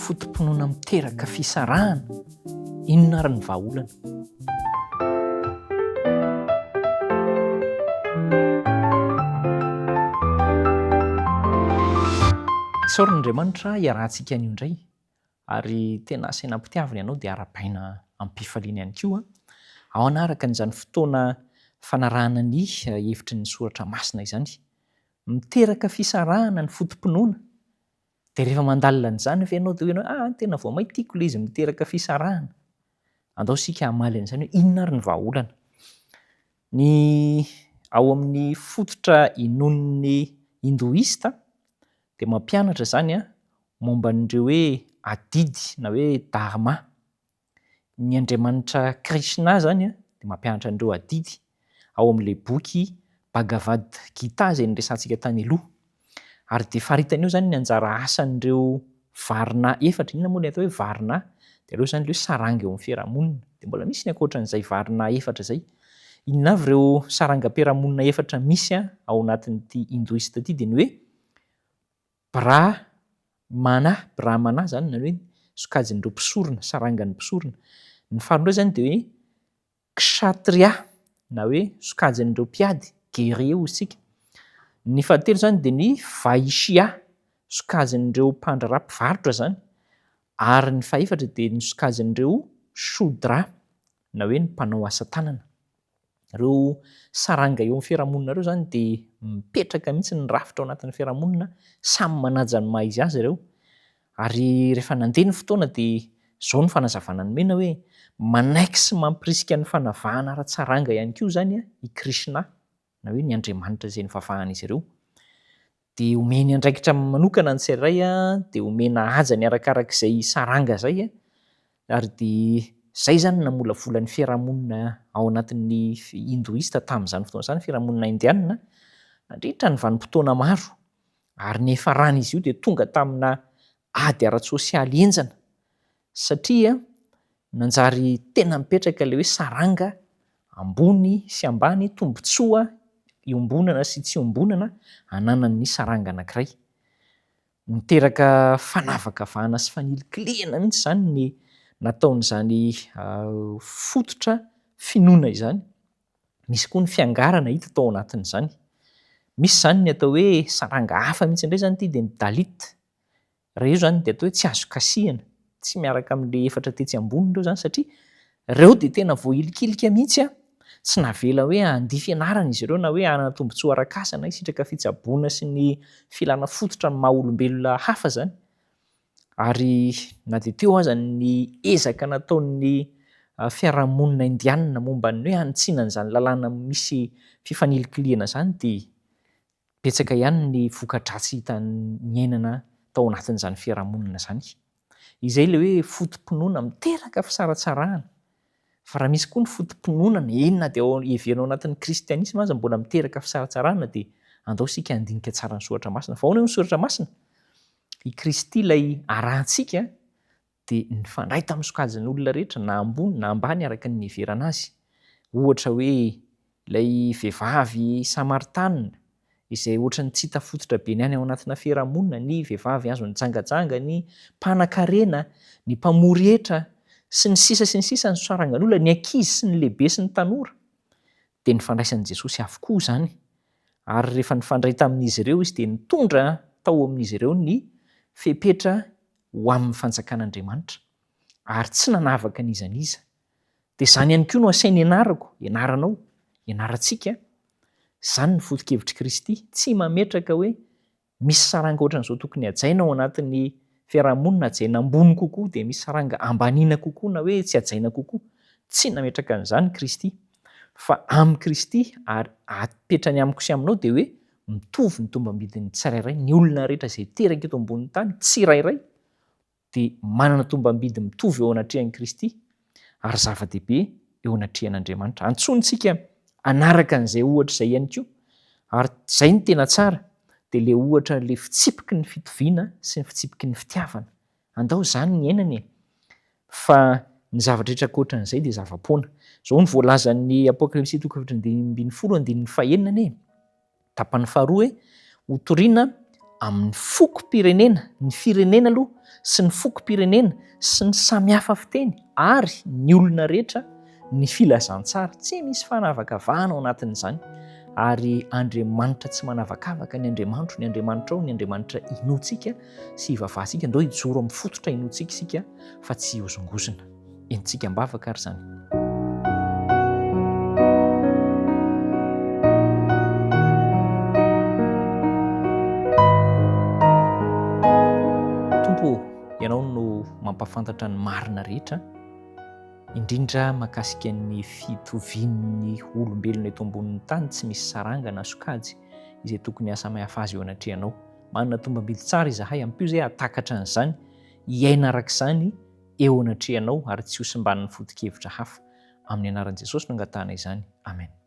Foto-pinoana miteraka fisarahana, inona ary ny vahaolana? Isaoran'Andriamanitra hiarahantsika anio indray ary tena asaina ampitiavina ianao dia arabaina amim-pifaliana ihany koa ao anaraka an'izany fotoana fanarahana ny hevitry ny soratra masina izany. Miteraka fisarahana ny foto-pinoana Dia rehefa mandalina an'izany ve ianao dia hoy ianao, ah, tena vao mainka tiako ilay izy miteraka fisarahana. Andao isika hamaly an'izany hoe inona ary ny vahaolana. Ny ao amin'ny fototra inoan'ny Hindoista dia mampianatra izany momba an'ireo hoe adidy na hoe dharma. Ny Andriamanitra Krishna izany dia mampianatra an'ireo adidy ao amin'ilay boky Bhagavad Gita izay niresahantsika tany aloha. Ary dia faritany eo izany ny anjara asan'ireo varna efatra. Inona moa ilay atao hoe varna? Dia aleo izany ilay hoe saranga eo amin'ny fiarahamonina. Dia mbola misy ny ankoatran'izay varna efatra izay. Inona avy ireo sarangam-piarahamonina efatra misy ao anatin'ity Hindoista ity? Dia ny hoe Brah mana, Brahmana izany na hoe sokajin'ireo mpisorona, sarangan'ny mpisorona. Ny faharoa indray izany dia hoe Kshatriya na hoe sokajin'ireo mpiady, guerrier hoy isika. Ny fahatelo izany dia ny Vaishya, sokajin'ireo mpandraharaha, mpivarotra izany. Ary ny fahefatra dia ny sokajin'ireo Shudra na hoe ny mpanao asa tanana. Ireo saranga eo amin'ny fiarahamonina ireo izany dia mipetraka mihitsy ny rafitra ao anatin'ny fiarahamonina, samy manaja ny maha izy azy ireo. Ary rehefa nandeha ny fotoana dia izao ny fanazavana nomena hoe, manaiky sy mampirisika ny fanavahana ara-tsaranga ihany koa izany i Krishna na hoe ny Andriamanitra izay nivavahan'izy ireo. dia omeny andraikitra manokana ny tsirairay dia omena hajany arakaraka izay saranga izay ary dia izay izany namolavola ny fiarahamonina ao anatin'ny hindoista tamin'izany fotoana izany, fiarahamonina indianina, nandritra ny vanim-potoana maro ary niafaran'izy io dia tonga tamina ady ara-tsosialy henjana Satria nanjary tena mipetraka ilay hoe saranga ambony sy ambany, tombontsoa iombonana sy tsy iombonana ananan'ny saranga anankiray. Niteraka fanavakavahana sy fanilikilihana mihitsy izany ny nataon'izany fototra finoana izany. Misy koa ny fiangarana hita tao anatin'izany. Misy izany ny atao hoe saranga hafa mihitsy indray izany ity dia ny Dalit. Raha eo izany dia atao hoe tsy azo kasihina, tsy miaraka amin'ilay efatra tetsy ambony ireo izany satria ireo dia tena voahilikilika mihitsy, tsy navela hoe handia fianarana izy ireo na hoe hanana tombontsoa arak'asa na hisitraka fitsaboana sy ny filana fototra ny maha olombelona hafa izany ary na dia teo aza ny ezaka nataon'ny fiarahamonina indianina momba ny hoe hanitsiana an'izany lalàna misy fifanilikilihana izany dia Betsaka ihany ny voka-dratsy hita niainana tao anatin'izany fiarahamonina izany. Izay ilay hoe foto-pinoana miteraka fisaratsarahana. Fa raha misy koa ny foto-pinoana, eny na dia ao heverina ao anatin'ny kristianisma aza mbola miteraka fisaratsarahana dia andao isika handinika tsara ny soratra masina. Fa ahoana io ny soratra masina? I Kristy ilay arahantsika dia nifandray tamin'ny sokajin'olona rehetra na ambony na ambany araka ny niheverana azy. Ohatra hoe ilay vehivavy Samaritana izay ohatran'ny tsy hita fototra be ny any ao anatina fiarahamonina, ny vehivavy azon'ny jangajanga, ny mpanan-karena, ny mpamory hetra, sy ny sisa sy ny sisa, ny sarangan'olona, ny ankizy sy ny lehibe sy ny tanora. Dia nifandraisan'i Jesosy avokoa izany ary rehefa nifandray tamin'izy ireo izy dia nitondra tao amin'izy ireo ny fepetra ho amin'ny fanjakan'Andriamanitra, ary tsy nanavaka n'iza n'iza. Dia izany ihany koa no asainy ianarako, ianaranao, ianarantsika. Izany ny foto-kevitr'i Kristy. Tsy mametraka hoe misy saranga ohatran'izao tokony hajaina ao anatin'ny fiarahamonina, hajaina ambony kokoa, dia misy saranga ambaniana kokoa na hoe tsy hajaina kokoa. Tsy nametraka an'izany Kristy. Fa amin'i Kristy, ary apetrany amiko sy aminao, dia hoe mitovy ny tombam-bidin'ny tsirairay, ny olona rehetra izay teraka eto ambonin'ny tany tsirairay dia manana tombam-bidy mitovy eo anatrehan'i Kristy ary zava-dehibe eo anatrehan'Andriamanitra. Antsointsika hanaraka an'izay ohatra izay ihany koa ary izay no tena tsara dia ilay ohatra ilay fitsipiky ny fitoviana sy ny fitsipiky ny fitiavana Andao izany ny iainana e! Fa ny zavatra rehetra ankoatran'izay dia zava-poana. Izao no voalazan'ny Apokalypsy toko efatra amby dimy ambin'ny folo andininy fahenina anie e! Tapany faharoa hoe, Hotorina amin'ny fokom-pirenena, ny firenena aloha, sy ny fokom-pirenena, sy ny samy hafa fiteny, ary ny olona rehetra, Ny filazantsara tsy misy fanavakavahana ao anatin'izany ary Andriamanitra tsy manavakavaka ny Andriamantro, ny Andriamanitrao, ny Andriamanitra inoantsika sy ivavahantsika. Andao hijoro amin'ny fototra inoantsika isika fa tsy hihozongozona. Entintsika am-bavaka ary izany. Tompo, Ianao no mampafantatra ny marina rehetra. indrindra mahakasika ny fitovian'ny olombelona eto ambonin'ny tany tsy misy saranga na sokajy izay tokony hahasamihafa azy eo anatrehanao. Manana tombam-bidy tsara izahay, ampio izay hahatakatra an'izany, hiaina araka izany eo anatrehanao ary tsy hosimban'ny foto-kevitra hafa. Amin'ny anaran'i Jesosy no angatahana izany. Amen.